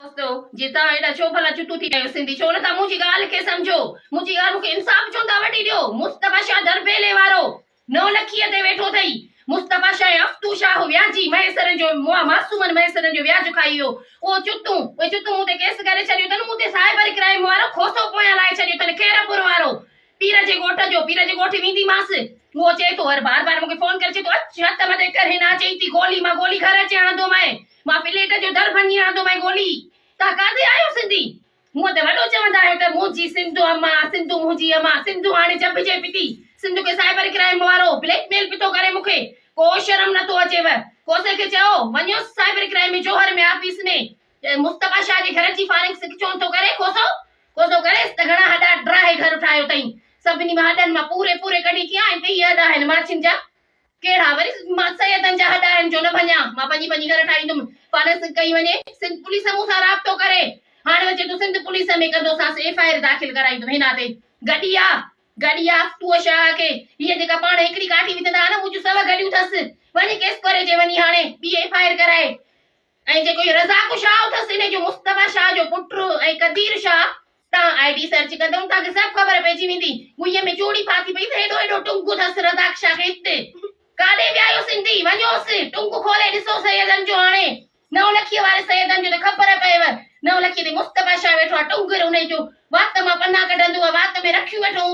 دوستو جي توهان ايڏا ڇو ڀلا چتو ٿي ڪيو سنڌي ڇو نٿا منهنجي ڳالهه کي سمجهو منهنجي ڳالهه کي انصاف چون ٿا وٺي ڏيو مصطفيٰ شاهه دربيلي وارو نو لکي تي ويٺو اٿئي مصطفيٰ شاهه افتو شاهه وياجي مهيسرن جو معصومن مهيسرن جو وياج کائي ويو اهو چتو اهي چتو مون تي ڪيس ڪري ڇڏيو اٿن مون تي سائبر ڪرائم وارو کوسو پويان لائي ڇڏيو اٿن خيرپور وارو پير جي ڳوٺ جو پير جي ڳوٺ ويندي ماس اهو چئي ٿو هر بار بار مونکي فون ڪري چئي ٿو اچ هٿ مٿي ڪر هن اچي ٿي گولي مان گولي گهر اچي هڻندو مئي مان پليٽ جو در ڀڃي آندوم ۽ ٻولي، توهان ڪاٿي آهيو سنڌي؟ مون تي وڏو چوندا آهيو ته منهنجي سنڌو امان، سنڌو منهنجي امان، سنڌو هاڻي چڀجي پتي، سنڌو کي سائبر ڪرائيم وارو بليڪ ميل پتو ڪري مون کي ڪو شرم نٿو اچيو، ڪوسي کي چئو وڃو cyber crime ۾ Johar ۾ office ۾ Mustafa Shah جي گهر جي فارنگ سڪ چون ٿو ڪري ڪوسو ڪوسو ڪريس ته گهڻا هڏا ڊاهي گهر ٺاهيو تئين سڀني مان هڏن مان پوري پوري ڪڍي ڪيان ۽ ڪيئي هڏا آهن ماڇين جا ڪهڙا وري ماتسيدن جا هڏا آهن جو نه ڀڃان، مان ڀڃي ڀڃي گهر ٺاهيندم. فارس ڪئي وڃي، سنڌ پوليس مون سان رابطو ڪري. هاڻ وچي تون سنڌ پوليس ۾ ڪندوسانس ايف آء آر داخل ڪرائيندم هن تي. گڏيا! گڏيا! ٽوء شاهه کي هيء جيڪا پاڻ هڪڙي ڪاٺي وجهندا ها نه منهنجون سو گڏيون ٿس. وڃي ڪيس ڪري چي وڃي هاڻي ٻي ايف آء آر ڪرائي. ۽ جيڪو هي رزاق شاهه اٿس انهي جو مصطفيٰ شاهه جو پٽ ۽ قدير شاهه تان آئي ڊي سرچ ڪندؤن تان کي سڀ خبر پئجي ويندي ڳئي ۾ چوڙي ڦاٿي پئي ته هيڏو هيڏو ٽنگ اٿس رزاق شاهه کي هت ڪاڏي ويا آهيو سنڌي وڃوس ٽنگ کولي ڏسو سيدن جو هاڻي نو لکيء واري سيدن جو ته خبر پيئيو نو لکيء تي مصطفيٰ شاهه ويٺو آهي ٽنگ انهي جو وات مان پنا ڪڍندو آهي وات ۾ رکيون ويٺو هوندو